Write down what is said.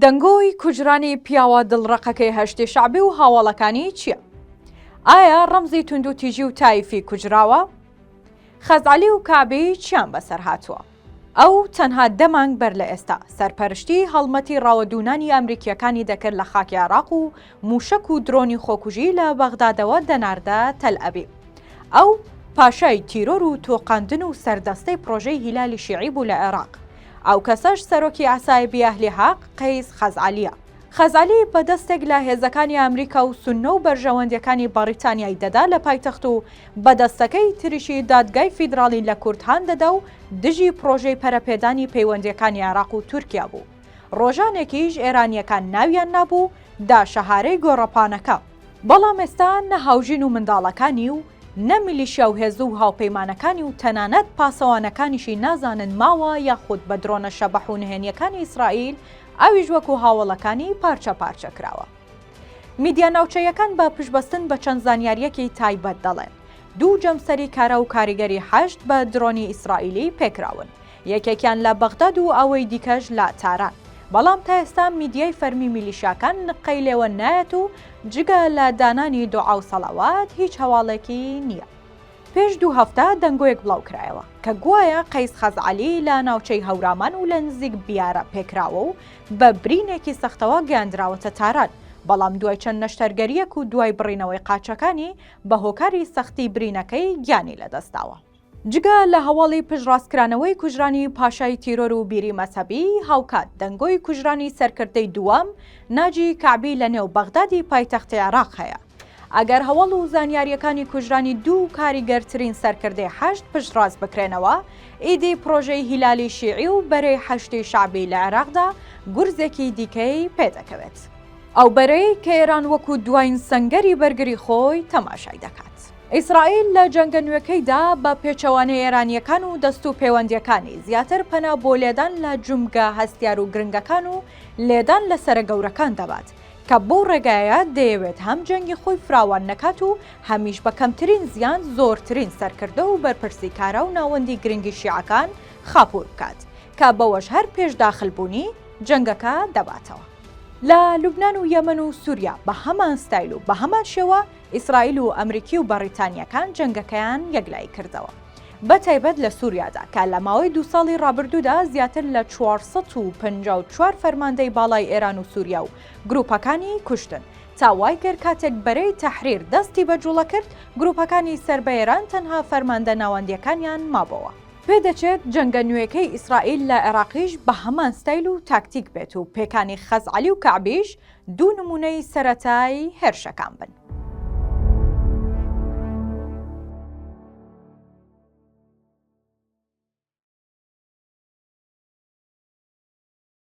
دەنگۆی کوژرانی پیاوە دڵڕەقەکەی هەشتی شەعبی و هاوەڵەکانی چییە؟ ئایا ڕەمزی توندوتیژی و تایفی کوژراوە؟ خەزعەلی و کەعبی چیان بەسەر هاتووە؟ ئەو تەنها دە مانگ بەر لە ئێستا سەرپەرشتی هەڵمەتی ڕاوەدوونانی ئەمریکییەکانی دەکرد لە خاکی عێراق و مووشەک و درۆنی خۆکوژی لە بەغدادەوە دەناردە تەلئەبیب. ئەو پاشای تیرۆر و تۆقاندن و سەردەستەی پڕۆژەی هیلالی شیعی بوو لە عێراق. ئەو کەسەش سەرۆکی عەسایبی ئەهلی حەق قەیس خەزعەلییە. خەزعەلی بە دەستێک لە هێزەکانی ئامریکا و سوننە و بەرژەوەندییەکانی بەڕیتانیای دەدا لە پایتەخت و بە دەستەکەی تریشی دادگای فیدراڵی لە کورد هان دەدا و دژی پڕۆژەی پەرەپێدانی پەیوەندییەکانی عێراق و تورکیا بوو. ڕۆژانێکیش ئێرانییەکان ناویان نابوو داشەهارەی گۆڕەپانەکە. بەڵام ئێستا نە هاوژین و منداڵەکانی و نە میلیشیا و هێزو و هاوپەیمانەکانی و تەنانەت پاسەوانەکانیشی نازانن ماوە یاخود بە درۆنە شەبەح و نهێنیەکانی ئیسرائیل ئەویش وەکو هاوەڵەکانی پارچە پارچە کراوە. میدیا ناوچەییەکان بە پشتبەستن بە چەند زانیاریەکی تایبەت دەڵێن، دوو جەمسەری کارا و کاریگەری حەشد بە درۆنی ئیسرائیلی پێکراون، یەکێکیان لە بەغداد و ئەوەی دیکەش لە تاران. بەڵام تا ئێستا میدیای فەرمی میلیشیاکان نققەی لێوە نایەت و جگە لە دانانی دوعا و سەڵاوات هیچ هەواڵێکی نییە. پێش دوو هەفتە دەنگۆیەک بڵاوکرایەوە کە گوایە قەیس خەزعەلی لە ناوچەی هەورامان و لە نزیک بیارە پێکراوە و بە برینێکی سەختەوە گەیاندراوەتە تاران، بەڵام دوای چەند نەشتەرگەرییەک و دوای بڕینەوەی قاچەکانی بە هۆکاری سەختی برینەکەی گیانی لەدەستداوە. جگە لە هەواڵی پشتڕاستکرانەوەی کوژرانی پاشای تیرۆر و بیری مەزهەبی، هاوکات دەنگۆی کوژرانی سەرکردەی دووەم ناجی کەعبی لە نێو بەغدادی پایتەختی عێراق هەیە. ئەگەر هەواڵ و زانیارییەکانی کوژرانی دوو کاریگەرترین سەرکردەی حەشد پشتڕاست بکرێنەوە، ئیدی پڕۆژەی هیلالی شیعی و بەرەی حەشدی شەعبی لە عێراقدا گورزێکی دیکەی پێدەکەوێت. ئەو بەرەی کە ئێران وەکو دوایین سەنگەری بەرگری خۆی تەماشای دەکات. ئیسرائیل لە جەنگە نوێکەیدا بە پێچەوانەی ئێرانییەکان و دەست و پێوەندییەکانی، زیاتر پەنا بۆ لێدان لە جومگە هەستیار و گرنگەکان و لێدان لە سەرە گەورەکان دەبات، کە بەو ڕێگایە دەیەوێت هەم جەنگی خۆی فراوان نەکات و هەمیش بە کەمترین زیان زۆرترین سەرکردە و بەرپرسی کارا و ناوەندی گرنگی شیعەکان خاپوور بکات، کە بەوەش هەر پێش داخل بوونی جەنگەکە دەباتەوە. لە لوبنان و یەمەن و سوریا بە هەمان ستایل و بە هەمان شێوە، ئیسرائیل و ئەمریکی و بەڕیتانییەکان جەنگەکەیان یەکلایی کردەوە. بە تایبەت لە سوریادا کە لە ماوەی دوو ساڵی ڕابردوودا زیاتر لە چوار سەد و پەنجا و چوار فەرماندەی باڵای ئێران و سوریا و گروپەکانی کوشتن تا وای کرد کاتێک بەرەی تەحریر دەستی بە جوڵە کرد گروپەکانی سەر بە ئێران تەنها فەرماندە ناوەندییەکانیان مابۆوە. پێدەچێت جەنگە نوێکەی ئیسرائیل لە عێراقیش بە هەمان ستایل و تاکتیک بێت و پێکانی خەزعەلی و کەعبیش دوو نموونەی سەرەتای هێرشە کام بن؟